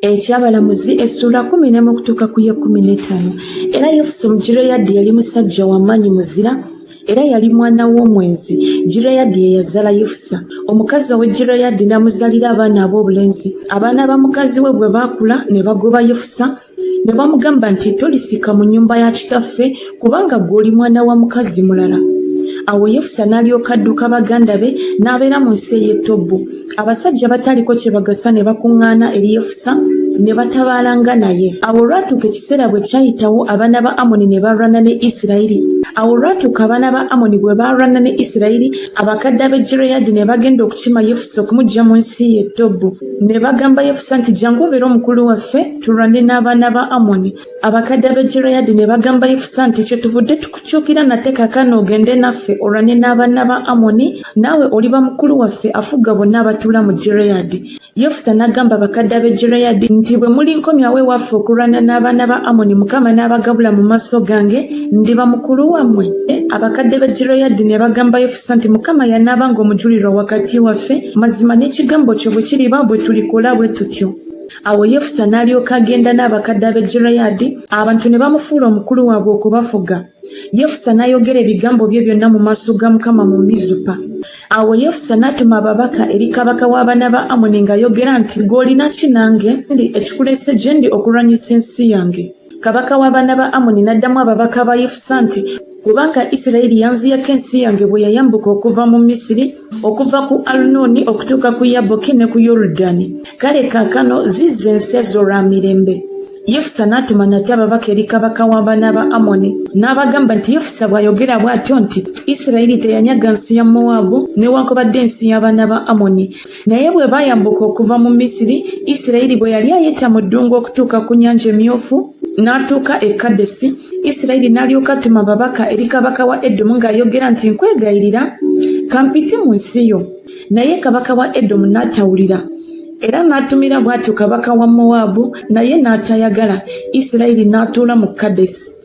ekyabalamuzi essuula kumi nemu okutuuka ku ye kumi n'etaano era yefusa omugireyadi yali musajja wamaanyi muzira era yali mwana w'omwenzi gireyadi yeyazaala yefusa omukazi owe gireyadi n'amuzalira abaana ab'obulenzi abaana ba mukazi we bwe baakula ne bagoba yefusa ne bamugamba nti tolisika mu nnyumba ya kitaffe kubanga ggwe oli mwana wa mukazi mulala awo yefusa n'alyoka adduka baganda be n'abeera mu nsi ey'e tobbu abasajja bataaliko kye bagasa ne bakuŋŋaana eri yefusa ne batabaalanga naye awo olwatuuka ekiseera bwe kyayitawo abaana ba amoni ne balwana ne isirayiri awo olwatuuka abaana ba amoni bwe baalwana ne isirayiri abakadde ab'e gireyaadi ne bagenda okukima yefusa okumuggya mu nsi y'e tobbu ne bagamba yefusa nti jangu obeere omukulu waffe tulwane n'abaana ba amoni abakadde abegireadi ne bagamba yifusa nti kye tuvudde tukukyukira nate kakano ogende naffe olwane n'abaana ba amoni naawe oliba mukulu waffe afuga bonna abatuula mu gireadi yefusa n'agamba abakadde abegireadi nti bwe mulinkomyawo ewaffe okulwana n'abaana ba amoni mukama n'abagabula mu maaso gange ndiba mukulu wammwe abakadde be gireadi ne bagamba yefusa nti mukama yanaaba ng'omujulirwa wakati waffe mazima n'ekigambo kyo bwe kiriba bwe tulikola bwe tutyo awo yefusa n'alyoka agenda n'abakadde ab'e gireyaadi abantu ne bamufuula omukulu waabwe okubafuga yefusa n'ayogera ebigambo bye byonna mu maaso ga mukama mu mizupa awo yefusa n'atuma ababaka eri kabaka w'abaana ba amoni ng'ayogera nti gw'olina ki nange ndi ekikuleese gye ndi okulwanyisa ensi yange Kabaka w'abaana ba Amoni n'addamu ababaka ba Yefusa nti, Kubanga Isirayiri yanziyako ensi yange bwe yayambuka okuva mu Misiri, okuva ku Alunooni okutuuka ku Yaboki ne ku Yorudani. Kale kaakano zizza ensi ezo lwa mirembe. Yefusa n'atuma nate ababaka eri kabaka w'abaana ba Amoni, n'abagamba nti, Yefusa bw'ayogera bw'atyo nti, Isirayiri teyanyaga nsi ya Mowaabu newaakubadde ensi y'abaana ba Amoni. Naye bwe baayambuka okuva mu Misiri, Isirayiri bwe yali ayita mu ddungu okutuuka ku Nnyanja Emmyufu, n'atuuka e Kadesi, Isirayiri n'alyoka atuma ababaka eri kabaka wa Edomu ng'ayogera nti, Nkwegayirira, kampite mu nsi yo. Naye kabaka wa Edomu n'atawulira. Era n'atumira bw'atyo kabaka wa Mowaabu, naye n'atayagala. Isirayiri n'atuula mu Kadesi.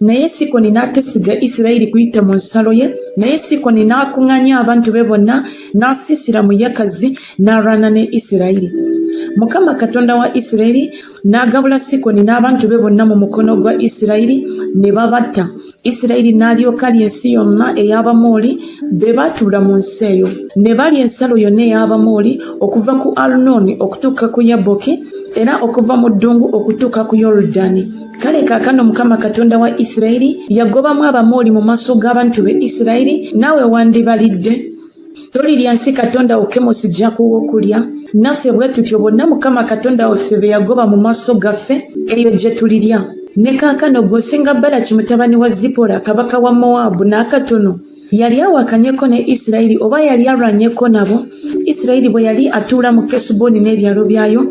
naye sikoni n'atesiga isirayiri kuyita mu nsalo ye naye sikoni n'akuŋŋanya abantu be bonna n'asiisira mu yakazi n'alwana ne isirayiri mukama katonda wa isirayiri n'agabula sikoni n'abantu be bonna mu mukono gwa isirayiri ne babatta isirayiri n'alyoka lya ensi yonna ey'abamooli be baatuula mu nsi eyo ne balya ensalo yonna ey'abamooli okuva ku arunooni okutuuka ku yaboki era okuva mu ddungu okutuuka ku yorudani kale kaakano mukama katonda wa isirayiri yagobamu abamooli mu maaso g'abantu be isirayiri naawe wandibalidde tolirya nsi katonda wo kemosi jakuwa okulya naffe bwe tutyo bonna mukama katonda waffe be yagoba mu maaso gaffe eyo gye tulirya ne kaakano gweosinga balaki mutabani wa zipora kabaka wa mowaabu n'akatono yali awakanyeko ne isirayiri oba yali alwanyeko nabo isirayiri bwe yali atuula mu kesuboni n'ebyalo byayo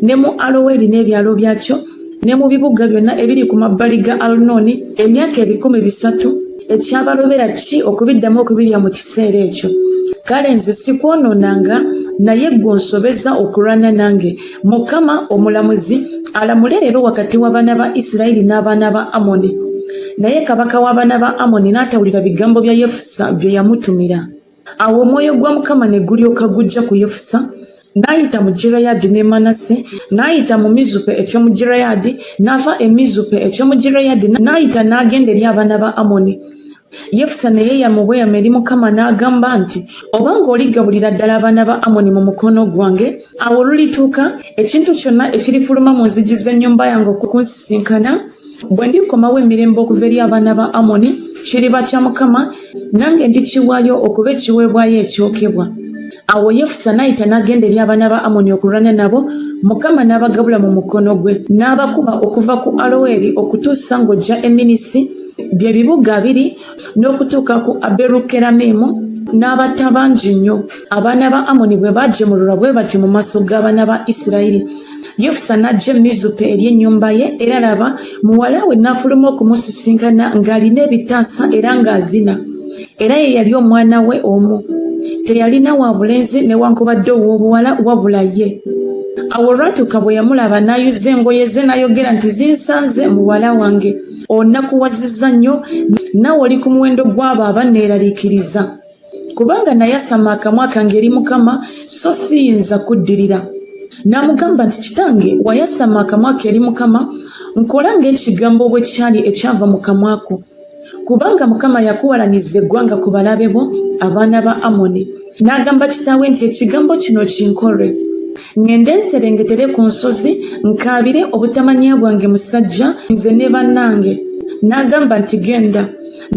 ne mu aloweri n'ebyalo byakyo ne mu bibuga byonna ebiri ku mabbali ga alunooni emyaka ebikumi bisatu ekyabalobera ki okubiddamu okubirya mu kiseera ekyo kale nze sikwonoonanga naye gwe onsobeza okulwana nange mukama omulamuzi alamule leero wakati w'abaana ba isirayiri n'abaana ba amoni naye kabaka w'abaana ba amoni n'atawulira bigambo bya yefusa bye yamutumira awo omwoyo gwa mukama ne gulyoka gujja ku yefusa n'ayita mu gireyaadi ne manase n'ayita mu mizupe eky'omu gireyaadi n'ava e mizupe eky'omu gireyaadi n'ayita n'agenda eri abaana ba amoni Yefusa ne yeeyama obweyamo eri Mukama n'agamba nti, Obanga oligabulira ddala abaana ba Amoni mu mukono gwange, awo olulituuka, ekintu kyonna ekirifuluma mu nzigi z'ennyumba yange okunsisinkana, bwe ndikomawo emirembe okuva eri abaana ba Amoni, kiriba kya Mukama, nange ndikiwaayo okuba ekiweebwayo ekyokebwa. Awo Yefusa n'ayita n'agenda eri abaana ba Amoni okulwana nabo, Mukama n'abagabula mu mukono gwe, n'abakuba okuva ku Aloweri okutuusa ng'ojja e Minnisi. bye bibuga biri n'okutuuka ku Aberukeramimu n'abatta bangi nnyo. Abaana ba Amoni bwe baajemululwa bwe batyo mu maaso g'abaana ba Isirayiri, Yefusa n'ajja e Mizupa eri ennyumba ye, era laba, muwala we n'afuluma okumusisinkana ng'alina ebitaasa era ng'azina, era ye yali omwana we omu. Teyalina wa bulenzi newankubadde ow'obuwala wabula ye. Awo olwatuuka bwe yamulaba n'ayuza engoye ze n'ayogera nti, Zinsanze, muwala wange! onakuwazizza nnyo nawe oli ku muwendo gw'abo abanneeraliikiriza kubanga nayasama akamwa kange eri mukama so siyinza kuddirira n'amugamba nti kitange wayasama akamwa ke eri mukama nkola ng'ekigambo bwe kyali ekyava mu kamwa ko kubanga mukama yakuwalanyiza eggwanga ku balabe bo abaana ba amoni n'agamba kitaawe nti ekigambo kino kinkolwe Ngende nserengetere ku nsozi nkaabire obutamanya bwange musajja nze ne bannange. N'agamba nti genda.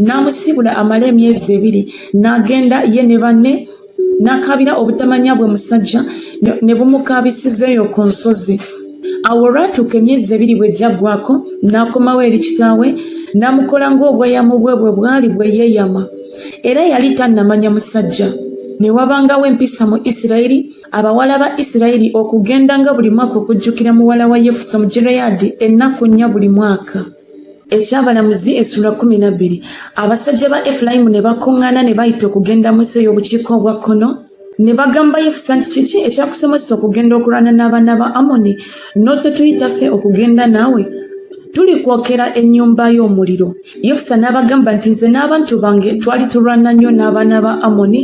N'amusiibula amale emyezi ebiri. N'agenda ye ne banne n'akaabira obutamanya bwe musajja ne bumukaabisiza eyo ku nsozi. Awo olwatuuka emyezi ebiri bwe gyaggwako n'akomawo eri kitaawe n'amukola ng'obweyamo bwe bwe bwali bwe yeeyama. Era yali tannamanya musajja. Ne wabangawo empisa mu Isirayiri. Abawala ba Isirayiri okugendanga buli mwaka okujjukira muwala wa Yefusa Omugireyaadi ennaku nnya buli mwaka. Ekyabalamuzi essula kkumi na bbiri Abasajja ba Efulayimu ne bakuŋŋaana ne bayita okugenda mu nsi ey'obukiika obwa kkono ne bagamba Yefusa nti, Kiki ekyakusomesa okugenda okulwana n'abaana ba Amoni n'ototuyita ffe okugenda naawe? Tulikwokera ennyumba yo omuliro. yefusa n'abagamba nti nze n'abantu bange twali tulwana nnyo n'abaana ba amoni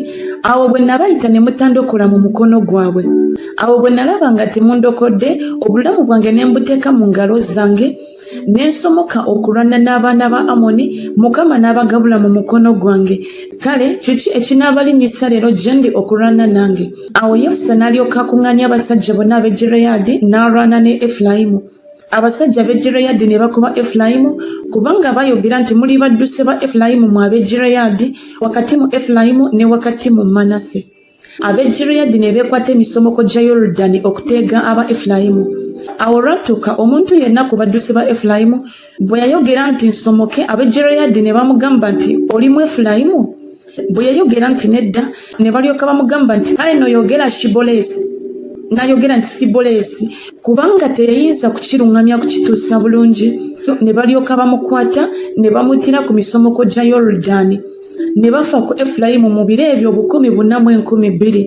awo bwe nabayita ne mutandokola mu mukono gwabwe awo bwe nalaba nga temundokodde obulamu bwange ne mbuteeka mu ngalo zange ne nsomoka okulwana n'abaana ba amoni mukama n'abagabula mu mukono gwange kale kiki ekinaabalinnyisa leero gye ndi okulwana nange awo yefusa n'alyoka akuŋŋaanya abasajja bonna ab'e gireyaadi n'alwana ne efulayimu Abasajja ab'e Gireyaadi ne bakuba Efulayimu, kubanga baayogera nti, Muli badduse ba Efulayimu mmwe ab'e Gireyaadi, wakati mu Efulayimu ne wakati mu Manase. Ab'e Gireyaadi ne beekwata emisomoko gya Yorudani okuteega aba Efulayimu. Awo olwatuuka omuntu yenna ku badduse ba Efulayimu bwe yayogera nti nsomoke ab'e gireyaadi ne bamugamba nti oli mu efulayimu bwe yayogera nti nedda ne balyoka bamugamba nti kale noyogera shiboleesi nayogera nti siboleesi kubanga teyayinza kukiruŋŋamya kukituusa bulungi ne balyoka bamukwata ne bamutira ku misomoko gya yorudani ne bafa ku efulayimu mu biro ebyo obukumi buna mu enkumi bbiri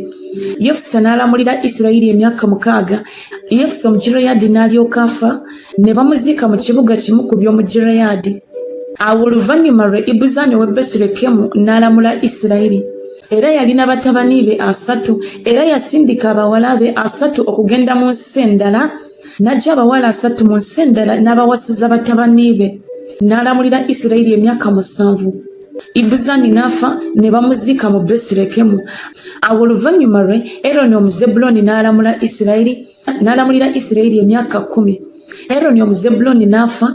yefusa n'alamulira isirayiri emyaka mukaaga yefusa omugireyaadi n'alyoka afa ne bamuziika mu kibuga kimu ku by'omu Gireyaadi. Awo oluvannyuma lwe Ibuzani ow'e Besirekemu n'alamula Isirayiri. Era yalina batabani be asatu, era yasindika abawala be asatu okugenda mu nsi endala, n'aggya abawala asatu mu nsi endala n'abawasiza batabani be, n'alamulira Isirayiri emyaka musanvu. Ibuzani n'afa ne bamuziika mu Besirekemu. Awo oluvannyuma lwe Eroni Omuzebbuloni n'alamula Isirayiri. n'alamulira isirayiri emyaka kkumi eroni omuzebulooni n'afa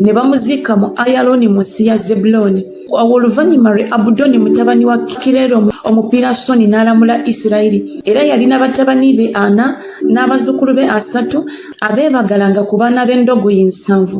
ne bamuziika mu ayalooni mu nsi ya zebulooni awo oluvannyuma lwe abudoni mutabani wa kireero omupirasoni n'alamula isirayiri era yalina batabani be ana n'abazzukulu be asatu abeebagalanga ku baana b'endogoyi nsanvu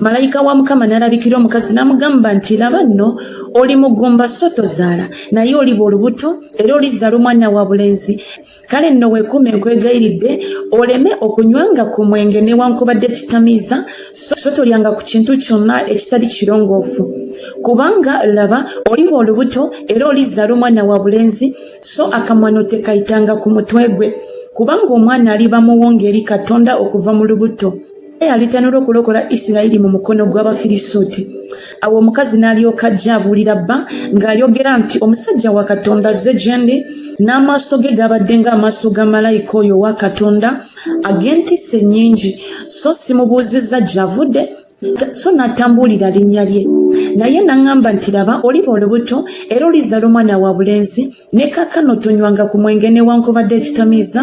malayika wa mukama n'alabikira omukazi n'amugamba nti laba nno oli mugumba so tozaala naye oliba olubuto era olizaala omwana wa bulenzi kale nno weekuuma enkwegayiridde oleme okunywanga ku mwenge newankubadde ekitamiiza so tolyanga ku kintu kyonna ekitali kirongoofu kubanga laba oliba olubuto era olizaala omwana wa bulenzi so akamwano tekayitanga ku mutwe gwe kubanga omwana aliba muwonga eri katonda okuva mu lubuto yalitanula okulokola isirayiri mu mukono gw'abafirisuuti awo omukazi n'alyoka ajja abuulira bba ng'ayogera nti omusajja wa katonda azze gye ndi n'amaaso ge gabadde ng'amaaso ga malayika oyo owa katonda ag'entiisa ennyingi so simubuuzizza gy'avudde so n'atambuulira linnya lye naye naŋŋamba nti laba oliba olubuto era olizala omwana wa bulenzi ne kaakano tonywanga ku mwenge newankubadde ekitamiiza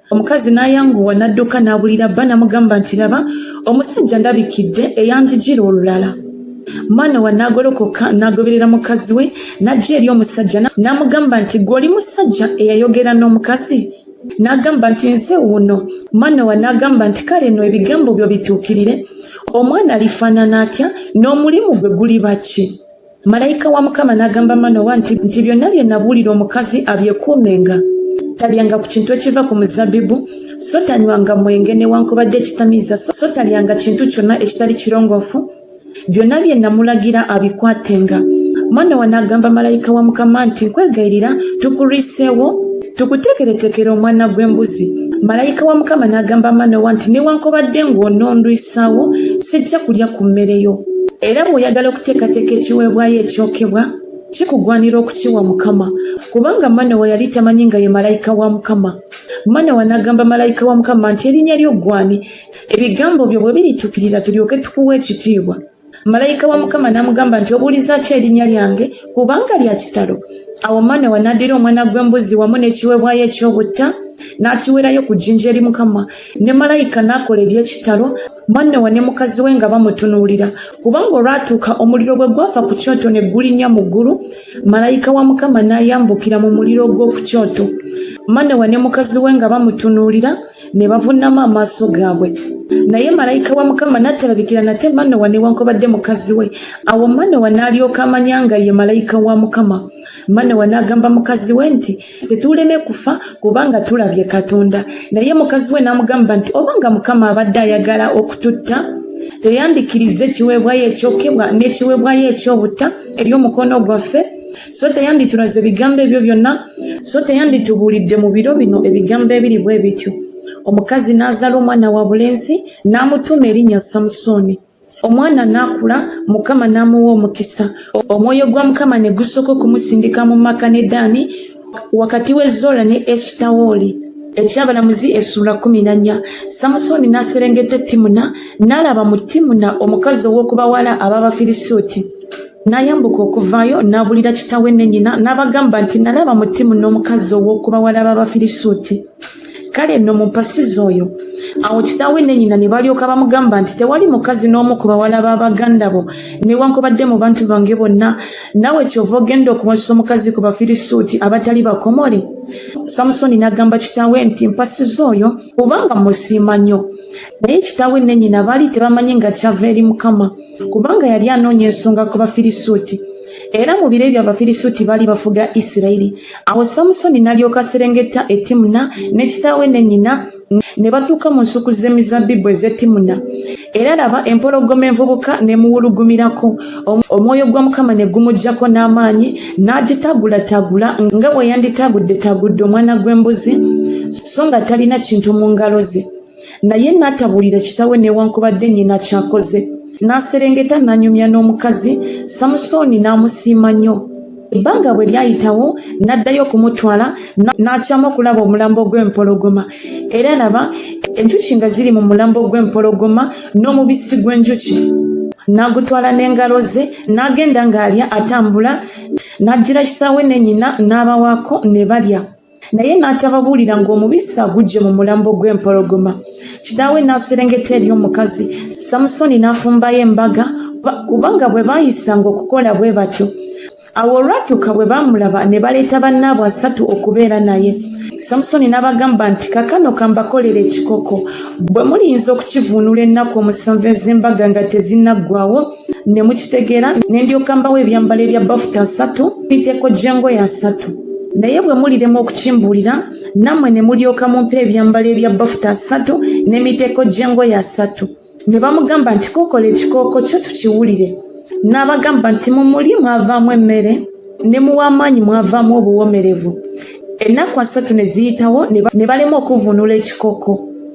Omukazi n'ayanguwa n'adduka n'abulira bba n'amugamba nti, Laba, omusajja andabikidde eyanjigira olulala. Manowa n'agolokoka n'agoberera mukazi we n'ajja eri omusajja n'amugamba nti, Ggwe oli musajja eyayogera n'omukazi? N'agamba nti, Nze wuuno. Manowa n'agamba nti, Kale nno ebigambo byo bituukirire, omwana alifaanana atya, n'omulimu gwe guliba ki? malayika wa mukama n'agamba manowa nti nti byonna bye nabuulira omukazi abyekuumenga talyanga ku kintu ekiva ku muzabbibu so tanywanga mwenge newankubadde ekitamiiza so talyanga kintu kyonna ekitali kirongoofu byonna bye namulagira abikwatenga manowa n'agamba malayika wa mukama nti nkwegayirira tukuliiseewo Tukuteekereteekere omwana gw'embuzi. Malayika wa Mukama n'agamba Manowa nti, Newankubadde ng'onondwisaawo, sijja kulya ku mmere yo. Era bw'oyagala okuteekateeka ekiweebwayo ekyokebwa, kikugwanira okukiwa Mukama, kubanga Manowa yali tamanyi nga ye malayika wa Mukama. Manowa n'agamba malayika wa Mukama nti, Erinnya lyo ggw'ani, ebigambo byo bwe birituukirira tulyoke tukuwe ekitiibwa? Malayika wa Mukama n'amugamba nti, Obuulizza ki erinnya lyange? Kubanga lya kitalo. Awo Manowa n'addira omwana gw'embuzi wamu n'ekiweebwayo eky'obutta n'akiweerayo ku jjinja eri Mukama, ne malayika n'akola eby'ekitalo, Manowa ne mukazi we nga bamutunuulira. Kubanga olwatuuka omuliro bwe gwafa ku kyoto ne gulinnya mu ggulu, malayika wa Mukama n'ayambukira mu muliro ogw'oku kyoto, Manowa ne mukazi we nga bamutunuulira. ne bavunnama amaaso gaabwe naye malayika wa mukama n'atalabikira nate manowa newankubadde mukazi we awo manowa n'alyoka amanya nga ye malayika wa mukama manowa n'agamba mukazi we nti tetuuleme kufa kubanga tulabye katonda naye mukazi we n'amugamba nti oba nga mukama abadde ayagala okututta teyandikiriza ekiweebwayo ekyokebwa n'ekiweebwayo ekyobutta eri omukono gwaffe so teyanditulaze ebigambo ebyo byonna so teyanditubuulidde mu biro bino ebigambo ebiri bwe bityo omukazi n'azala omwana wa bulenzi n'amutuuma erinnya samusooni omwana n'akula mukama n'amuwa omukisa omwoyo gwa mukama ne gusooka okumusindika mu maka ne daani wakati w'ezola ne esutawooli ekyabalamuzi essuula kumi nanya samusooni n'aserengeta e timuna n'alaba mu timuna omukazi ow'okubawala ab'abafirisuuti N'ayambuka okuvaayo, n'abuulira kitaawe ne nnyina, n'abagamba nti, Nalaba mu ttiimu n'omukazi ow'oku bawala b'Abafirisuuti. Kale nno mumpasize oyo. Awo kitaawe ne nnyina ne balyoka bamugamba nti, Tewali mukazi n'omu ku bawala ba baganda bo, newankubadde mu bantu bange bonna, naawe ky'ova ogenda okuwasa omukazi ku Bafirisuuti abatali bakomole? Samusooni n'agamba kitaawe nti, Mpasize oyo, kubanga mmusiima nnyo. Naye kitaawe ne nnyina baali tebamanyi nga kyava eri Mukama. kubanga yali anoonya ensonga ku bafirisuuti era mu biro ebyo abafirisuuti baali bafuga isirayiri awo samusoni n'alyoka aserengeta e timuna ne kitaawe ne nnyina ne batuuka mu nsuku z'emizabbibu ez'e timuna era laba empologoma envubuka ne muwulugumirako omwoyo gwa mukama ne gumugyako n'amaanyi n'agitagulatagula nga bwe yanditagudde tagudde omwana gw'embuzi so nga talina kintu mu ngalo ze naye n'atabulira kitawe newankubadde nnyina kyakoze n'aserengeta n'anyumya n'omukazi samusooni n'amusiima nnyo ebbanga bwe lyayitawo n'addayo okumutwala n'akyamu okulaba omulambo gw'empologoma era laba enjuki nga ziri mu mulambo gw'empologoma n'omubisi gw'enjuki n'agutwala n'engalo ze n'agenda ng'alya atambula n'ajjira kitawe ne nyina n'abawaako ne balya naye n'atababuulira ng'omubisi aguggye mu mulambo gw'empologoma kitaawe n'aserengeta eri omukazi samusoni n'afumbayo embaga kubanga bwe baayisanga okukola bwe batyo awo olwatuuka bwe baamulaba ne baleeta bannaabwe asatu okubeera naye samusoni n'abagamba nti kakano kambakolera ekikoko bwe muliyinza okukivuunula ennaku omusanvu ez'embaga nga tezinnaggwawo ne mukitegeera ne ndyoka mbawo ebyambalo ebya bafuta asatu miteeko gy'engoye asatu naye bwe muliremu okukimbuulira nammwe ne mulyoka mumpa ebyambalo ebya bafuta asatu n'emiteeko gy'engoye asatu ne bamugamba nti kokola ekikooko kyo tukiwulire n'abagamba nti mu muli mwavaamu emmere ne muw'amaanyi mwavaamu obuwoomerevu ennaku asatu ne ziyitawo ne balema okuvvuunula ekikooko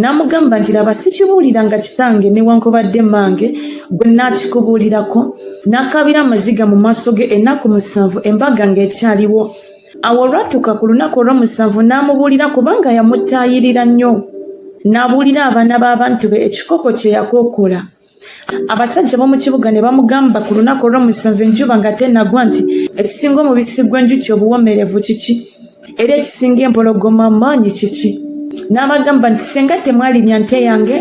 n'amugamba nti laba sikibuuliranga kitange newankubadde mange gwe naakikubuulirako n'akaabira amaziga mu maaso ge ennaku musanvu embaga ng'ekyaliwo awo olwatuuka ku lunaku olw'omusanvu n'amubuulira kubanga yamutaayirira nnyo n'abuulira abaana b'abantu be ekikoko kye yakokola Abasajja b'omu kibuga ne bamugamba ku lunaku olw'omusanvu enjuba nga tennagwa nti, Ekisinga omubisi gw'enjuki obuwoomerevu kiki? Era ekisinga empologoma amaanyi kiki? N'abagamba nti, Singa temwalibya nte yange,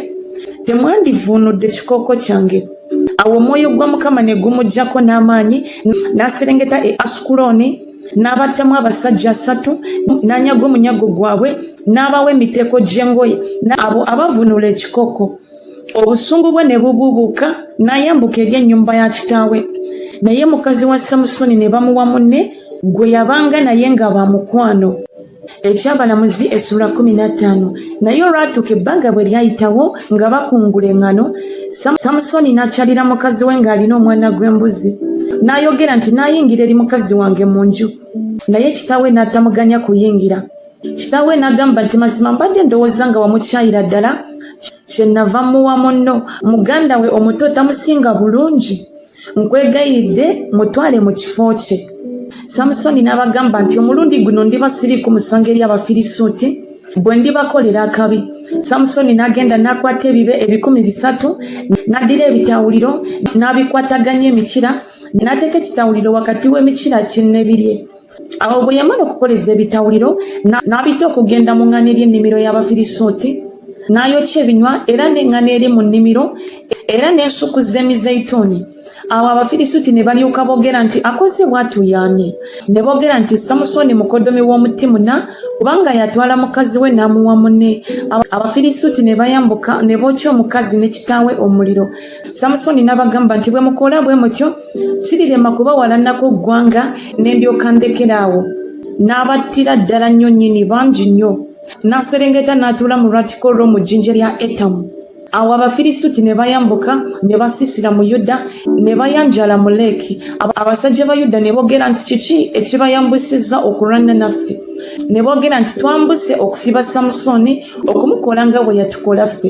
temwandivvuunudde kikooko kyange. Awo omwoyo gwa Mukama ne gumujjako n'amaanyi, n'aserengeta e Asukulooni, n'abattamu abasajja asatu, n'anyaga omunyago gwabwe, n'abawa emiteeko gy'engoye, n'abo abavvuunula ekikooko. obusungu bwe ne bubuubuuka n'ayambuka eri ennyumba ya kitaawe naye mukazi wa samusoni ne bamuwa munne gwe yabanga naye nga ba mukwano ekyabalamuzi essula 15 naye olwatuuka ebbanga bwe lyayitawo nga bakungula eŋŋano samusoni n'akyalira mukazi we ng'alina omwana gw'embuzi n'ayogera nti naayingira eri mukazi wange mu nju naye kitaawe n'atamuganya kuyingira kitaawe n'agamba nti mazima mbadde ndowooza nga wamukyayira ddala kyenava muwa munno muganda we omuto tamusinga bulungi nkwegayidde mutwale mu kifo kye samusoni n'abagamba nti omulundi guno ndiba siri ku musango eri abafirisuuti bwe ndibakolera akabi samusoni n'agenda n'akwata ebibe ebikumi bisatu n'addira ebitawuliro n'abikwataganya emikira n'ateeka ekitawuliro wakati w'emikira kinnebirye Awo bwe yamala okukoleza ebitawuliro, n'abita okugenda mu ŋŋana eri ennimiro y'Abafirisuuti, n'ayokya ebinywa era n'eŋŋana eri mu nnimiro, era n'ensuku z'emizeyituuni. Awo Abafirisuuti ne balyoka boogera nti, Akoze bw'atyo ye ani? Ne boogera nti, Samusooni mukoddomi w'omu Timuna, kubanga yatwala mukazi we n'amuwa munne. Abafirisuuti ne bayambuka ne bookya omukazi ne kitaawe omuliro. Samusooni n'abagamba nti, Bwe mukola bwe mutyo, Sirirema kubawalanako ggwanga ne ndyoka ndekera awo. N'abattira ddala nnyo nnyini, bangi nnyo. N'aserengeta n'atuula mu lwatika olw'omu jjinja lya Etamu. Awo Abafirisuuti ne bayambuka ne basiisira mu Yuda, ne bayanjaala mu Leeki. Abasajja ba Yuda ne boogera nti, Kiki ekibayambusizza okulwana naffe? Ne boogera nti, Twambuse okusiba Samusooni, okumukola nga bwe yatukola ffe.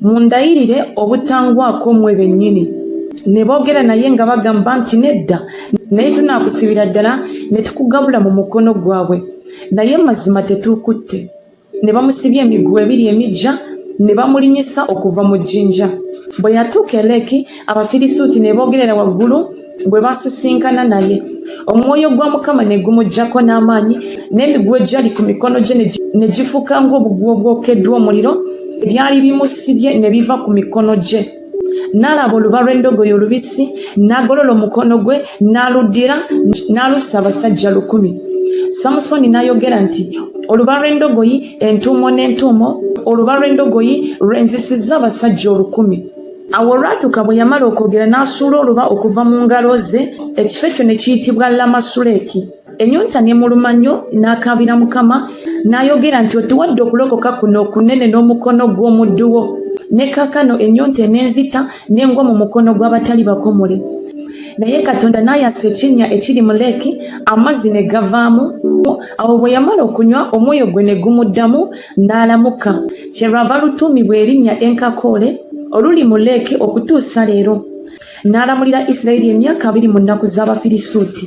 Mundayirire obutangwako mmwe bennyini. Ne boogera naye nga bagamba nti, Nedda, naye tunaakusibira ddala ne tukugabula mu mukono gwabwe. Naye mazima tetuukutte. Ne bamusibya emiguwa ebiri emiggya, ne bamulinyisa okuva mu jjinja. Bwe yatuuka e Leki, Abafirisuuti ne boogerera waggulu. bwe baasisinkana naye omwoyo gwa mukama ne gumuggyako n'amaanyi n'emiguwa egyali ku mikono gye ne gifuuka ng'obuguwa obwokeddwa omuliro ebyali bimusibye ne biva ku mikono gye n'alaba oluba lw'endogoyi olubisi n'agolola omukono gwe n'aluddira n'alussa abasajja lukumi samusoni n'ayogera nti oluba lw'endogoyi entuumo n'entuumo oluba lw'endogoyi lwenzisizza abasajja olukumi Awo olwatuuka bwe yamala okwogera n'asuula oluba okuva mu ngalo ze, ekifo ekyo ne kiyitibwa Lamasuleki. Ennyonta n'emuluma nnyo, n'akaabira Mukama, n'ayogera nti, Otuwadde okulokoka kuno okunene n'omukono gw'omuddu wo, ne kaakano ennyonta enenzita, ne ngwa mu mukono gw'abatali bakomole. Naye Katonda n'ayasa ekinnya ekiri mu leeki, amazzi ne gavaamu. Awo bwe yamala okunywa, omwoyo gwe ne gumuddamu. n'alamuka, kye lwava lutuumibwa erinnya Enkakoole oluli mu Lake okutuusa leero. N'alamulira Isirayiri emyaka abiri mu nnaku z'Abafirisuuti.